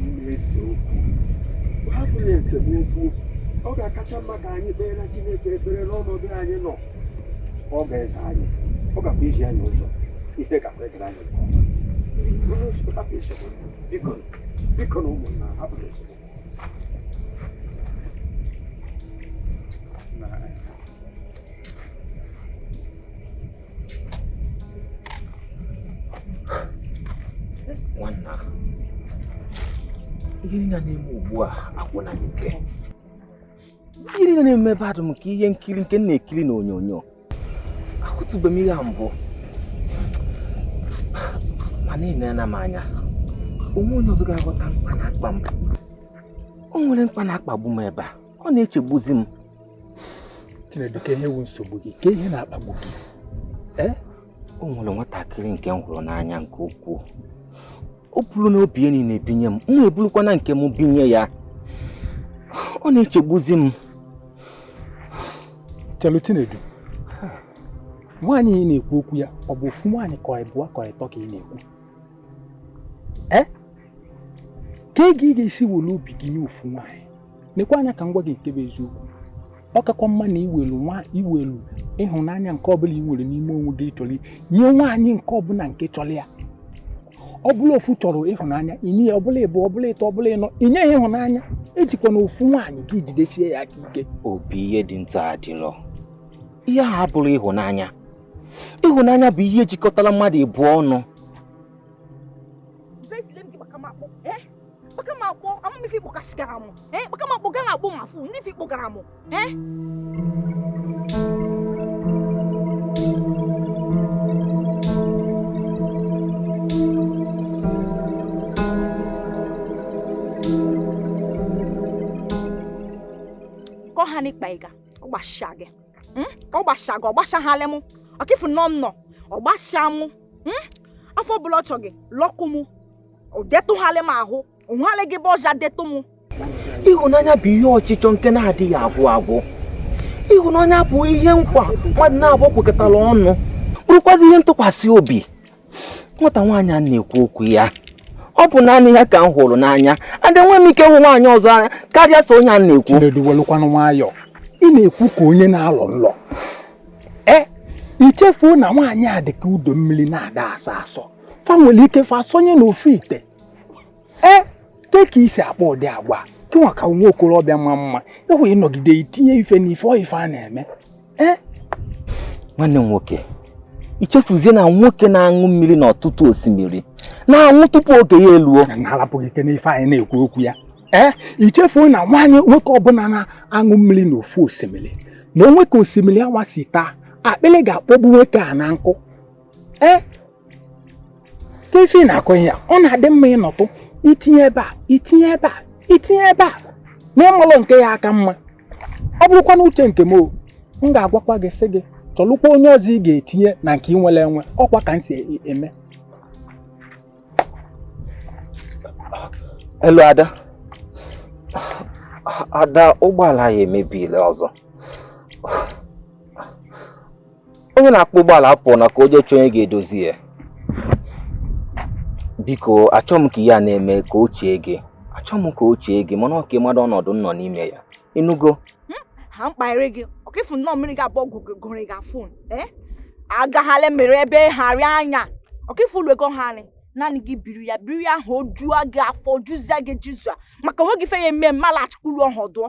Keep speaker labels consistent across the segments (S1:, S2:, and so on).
S1: n'ime ese okwu hapụnụ esemokwu ọ ga-akacha mma ka anyị kpeere Chineke ekpere n'ọnọdụ anyị nọ ọ ga-aza anyị ọ gakwa izi anyị ụzọ ihe gakwa agara anyị nke ọma. Onye nsogbu hapụ esemokwu biko bikonụ ụmụnna hapụnụ esemokwu
S2: nwanna ihe niile na-eme ugbu a agwụla m ike ihe niile na-eme ebe a dụ m ka ihe nkiri nke m na-ekiri n'onyonyo ahụtụbe m ihe a mbụ mana nenụ m anya o nwe onye ọzọ ga-aghọta mkpa na-akpa m o nwere mkpa na-akpagbu m ebe a ọ na-echegbuzi
S1: m Chinedu kee ihe wu nsogbu gị kee ihe na-akpagbu gị
S2: ee o nwere nwatakịrị nke m hụrụ n'anya nke ukwuu o buru na obi ya niine binye m m ebulukwana nke m binye ya ọ na-echegbuzi
S1: m chelu Chinedu nwaanyị ị na-ekwu okwu ya ọ bụ ofu nwaanyị ka ịbụọ ka ịtọ ka ị na-ekwu ee ka ị ga-esi welu obi gị nye ofu nwaanyị nekwa anya ka m gwa gị nke bụ eziokwu ọ kakwa mma na i welu nwa i welu ịhụnanya nke ọbụla i nwere n'ime onwe gị chọrọ nye nwaanyị nke ọbụla nke chọrọ ya ọ bụlụ ofu chọrọ ịhụnanya i nye ya ọ bụlụ ịbụọ ọ bụlụ ịtọ ọ bụlụ ịnọ i nye ya ịhụnanya ejikwana ofu nwaanyị ka i jidesie ya aka ike obi ihe dị
S2: nta adịlọ ihe a abụrọ ịhụnanya ịhụnanya bụ ihe jikọtara mmadụ ịbụọ ọnụ kpọka m akpọ ama m ife ị kpọkasịgara m ee kpọka m akpọ gaa na-agbụ m afụ ndị ife ị kpọgara m
S3: ee kọ ha n'ịkpa ịga ọ gbasịa gị mm? ka ọ gbasịa gị ọ gbasịahalị mụ ọkịfụ nọ nnọ ọ gbasịa mụ mm? afọ ọbụla ọ chọ gị lọkụ mụ ọ detụghalị m ahụ o nweghalị gị ebe ọ ja-edetụ m
S2: ịhụnanya bụ ihe ọchịchọ nke na-adịghị agwụ agwụ ịhụnanya bụ ihe nkwa mmadụ naabọ kwekọtara ọnụ bụrụkwazi ihe ntụkwasị obi nwata nwaanyị a m na-ekwu okwu ya ọ bụ naanị ya ka m hụrụ n'anya adị nwe m ike hụ nwaanyị ọzọ n'anya karịa so onye a na-ekwu Chinedu welukwanụ
S1: nwayọọ ị na-ekwu ka onye na-alọ nlọ e i chefuo na nwaanyị dị ka udu mmili na-ada asọ asọ fa nwere ike fa sonye n'ofu ite ee ke ka i si akpa ụdị agwa gịnwa ka nwa okorobịa ma mma ịhụ ịnọgide itinye ife n'ife ọ ife a na-eme ee nwanne
S2: m nwoke i chefuzie na nwoke na-aṅụ mmiri n'ọtụtụ osimiri na-anwụ tupu oge ya eluo na-alapụghị ike n'ife
S1: anyị na-ekwu okwu ya ee i chefuo na nwaanyị nwoke ọbụla na-aṅụ mmiri n'ofu osimiri na o nwee ka osimiri anwa si taa akpịrị ga-akpọgbu nwoke a na nkụ ee ka ife na-akọ ya ọ na-adị mma ị nọtụ itinye ebe a itinye ebe a itinye ebe a na ị malụ nke ya-aka mma ọ bụrụkwa na uche nke m o m ga-agwakwa gị sị gị chọlụkwa onye ọzọ ị ga-etinye na nke ị nwere enwe ọ kwa ka m si e-
S2: eme elu ada ada ụgbọala ya emebiela ọzọ onye na-akpọ ụgbọala apụọna ka o jee chọọ onye ga-edozi ya biko achọ m ka ihe a na-eme ka o chie gị achọ m ka o chie gị mana ọ ka ị mara ọnọdụ m nọ n'ime ya ị nụgo ha mkpaghere
S3: gị ọ ka ị fụ nnọọ mmiri ga-abụọ gụgụrị gị afụ ee agaghala mere ebe harị anya ọ ka ị fụ ụlọ ego ha anyị naanị gị biri ya biri ya ahụ o juo gị afọ juzie gị jizua maka onwe gị fe ya eme mma laghachikwa ụlọ ọhụ dụọ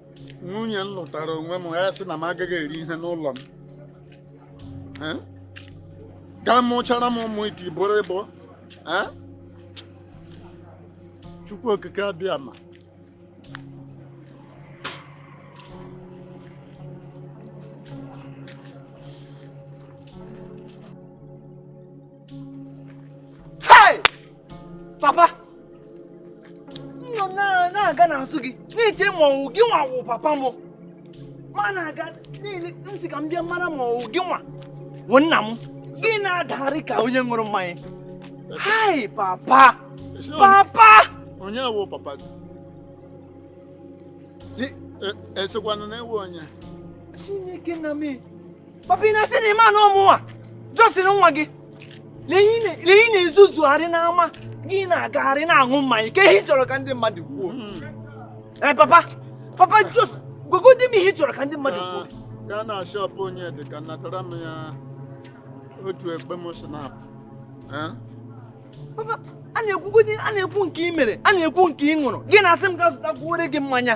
S4: nwunye m lụtara onwe m ya sị na m agaghị eri ihe n'ụlọ m eh? gaa mụchara m ụmụ iti bọrịbọ eh? chukwu okike abịama
S2: papa m nọ na-aga n'azụ gị na-eche ma ọ wụ gịnwa wụ papa m ma na-aga niile m sị ka m bịa mara ma ọ wụ gịnwa wụ nna m gị na-adagharị ka onye ṅụrụ mmanya hai papa
S4: papa onye wụ papa gị ị sịkwa na e, na ị wụ onye chineke
S2: nna m papa ị na-asị na ị ma na ọ mụnwa jọsịrị nwa gị lee ị na-ezuzugharị n'ama gị na-agagharị na-aṅụ mmanya kee ihe ị chọrọ ka ndị mmadụ kwuo ee papa papa just gwagodi m ihe ị chọrọ ka ndị mmadụ kwuo gaa na
S4: shop onyedịka natara m ya otu ekpem
S2: schnapps papa a na-ekwugodi a na-ekwu nke ị mere a na-ekwu nke ị ṅụrụ gị na-asị m gaa zụtakwuore gị mmanya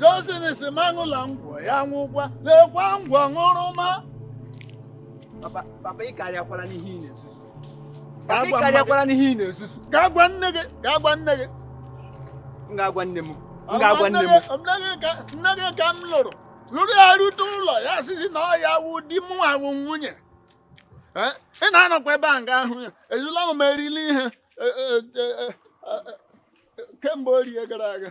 S4: Johnson sị m aṅụla ngwọ ya nwụkwa lekwa ngwọ ṅụrụma
S2: Papa, papa ị karịakwala n'ihe ị na-ezuzu. Papa ị Agwa mmadụ. karịakwala n'ihe ị na-ezuzu. gaa gwa nne gị
S4: gaa gwa nne gị
S2: M ga-agwa nne m. M ga-agwa nne
S4: m. Nne gị ka- nne gị ka m lụrụ lụrụ ya rute ụlọ ya sịzi na ọ ya wụ di mụ awụ nwunye Eh, ị na-anọkwa ebe a nga ahụ ya ejula m erili ihe eh, eh, eh, eh, eh, kemgbe orie gara aga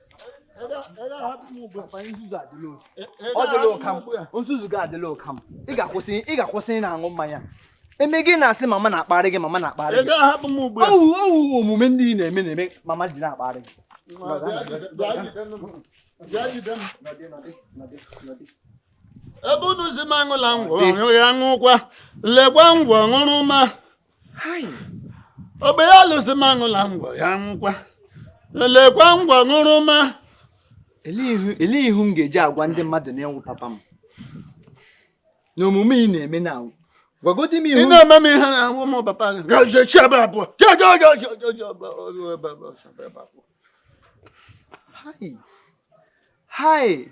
S2: ọ dịla ụka m nzuzu gị adịla ụka m ị ga-akwụsị ị na-aṅụ mmanya e mee gị na-asị mama na-akparị gị mama na-akparị gị ọ wụ ọ wụ omume ndị ị na-eme na-eme mama ji na-akparị
S4: gị ebe unu sị m aṅụla ngwọ ya nwụkwa lekwa ngwọ ṅụrụma ogbe ya lụsị m aṅụla ngwọ ya nwụkwa lekwa ngwọ ṅụrụma
S2: elee ihu m ga-eji agwa ndị mmadụ na ị wụ papa m na omume ị na-eme na anwụ gwagodi m ihu na-eme m ihe na
S4: awụ m papa gị gajechi ebe
S2: abụọ hai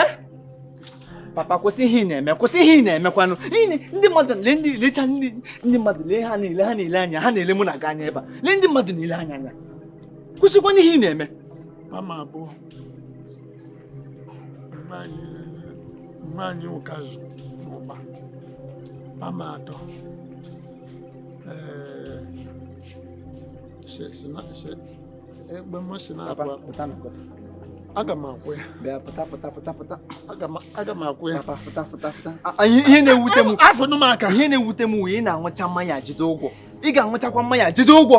S2: eh? papa kwụsị ihe ị na-eme kwụsị ihe ị na-emekwanụ ndị mmadụ lee ndị lecha ndị mmadụ lee ha niile ha na-ele anya ha na-ele mụ na gị anya ebe a lee ndị mmadụ na-ele anya anya kwụsịkwana ihe ị na-eme mama abụọ
S4: mmanya ụkazụ ụba mama atọ ee eh, egbe mmasị na-abụ aga m akwụ ya bịa pụta pụta
S2: pụta pụta aga
S4: m akwụ ya papa pụta pụta pụta
S2: ihe na-ewute m hafụnụ m aka ihe na-ewute
S4: m wụ ị
S2: na-aṅụcha mmanya jide ụgwọ ị ga-aṅụchakwa mmanya jide ụgwọ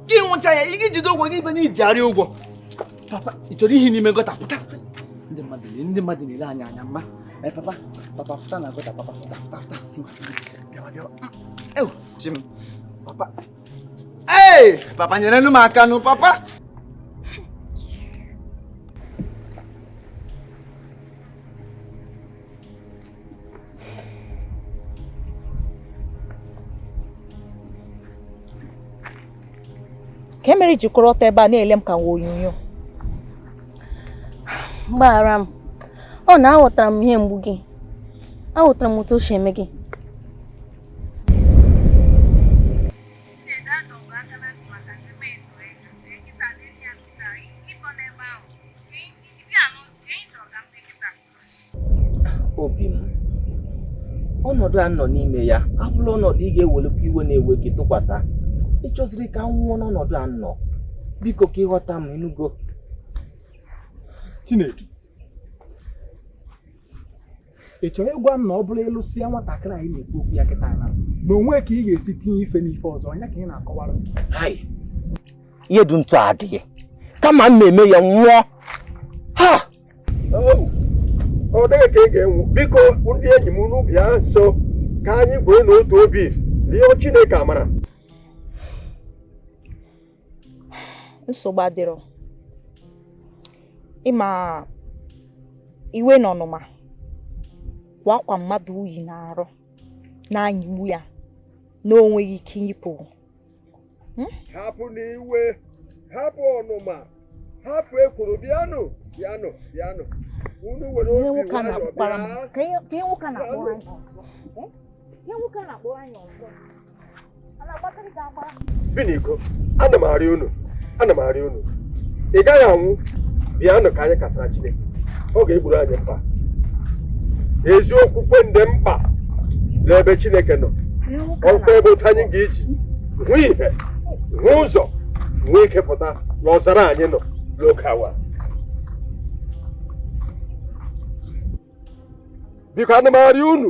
S2: gị ṅụcha ya ị ga-ejide ụgwọ gị ibe na-ejigharị ụgwọ papa ị chọrọ ihe n'ime gutter pụta ndị mmadụ na ndị mmadụ na-ele anya anya mma ee eh, papa papa pụta na gutter papa pụta pụta pụta bịawa bịawa ewu chi m papa Hey, papa nyere m aka nụ
S3: papa kee ihe mere i ji kwụrụ ọtọ ebe a na-ele m ka nwa
S5: onyonyo gbaghara m ọ na aghọtara m ihe mgbu gị aghọtara m otu o si eme gị
S2: obi m ọnọdụ a m nọ n'ime ya abụla ọnọdụ ị ga-ewelekwa iwe na-ewe gị tụkwasị ị chọziri ka m nwụọ n'ọnọdụ a m nọ biko ka ị ghọta m ị
S1: nụgo Chinedu ị chọrọ ịgwa m na ọ bụrụ ị lụsịa nwatakịrị anyị na-ekwu okwu ya kịta na na o nwe ka ị ga-esi tinye ife n'ife ọzọ onye ka ị na-akọwara ihe
S2: dị ntụ adịghị kama m na-eme ya nwụọ
S6: ha ọ dịghị ka ị ga-anwụ biko ndị enyi m unu bịa nso ka anyị bụrụ n'otu obi rịọ Chineke amara
S3: nsogbu adịrọ ị ma iwe na ọnụma bụ akwa mmadụ yi n'arụ na-anyịgbu ya na o nweghị ike iyipụ
S6: hmm? hapụnụ iwe hapụ ọnụma hapụ ekworo bịanụ bịanụ bịanụ unu were obi nwayọọ bịa ihe nwoke na-akpọrọ anyị ọzọ biniko ana m arịọ unu ana m arịọ unu ị gaghị anwụ bịanụ ka anyị kọsara chineke ọ ga-egboro anyị mkpa ezi okwukwe dị mkpa n'ebe chineke nọ ọkwa ebe otu anyị ga-eji hụ ihe hụ ụzọ nwee ike pụta n'ọzara anyị nọ n'oge awa biko ana m arịọ unu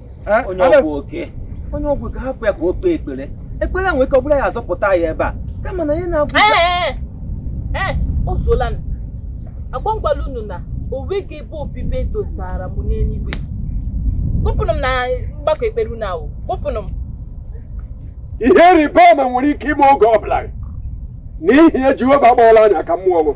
S7: Eh, onye
S2: Alex, ọgwụ oke onye ọgwụ ka hapụ ya ka o kpee ekpere ekpere a nwere ike ọ bụrụ ya azọpụta ya ebe a kama na ya na-agwụ Ee, ee,
S8: o zuolanụ. Agwa m kwala unu na o nweghị ebe obibi e dosara m n'eluigwe. Kpọpụnụ m na mgbakọ ekpere unu ahụ. Kpọpụnụ
S6: m. ihe ịrịba ama nwere ike ime oge ọ bụla n'ihi ya jehova agbaala anya ka mmụọ m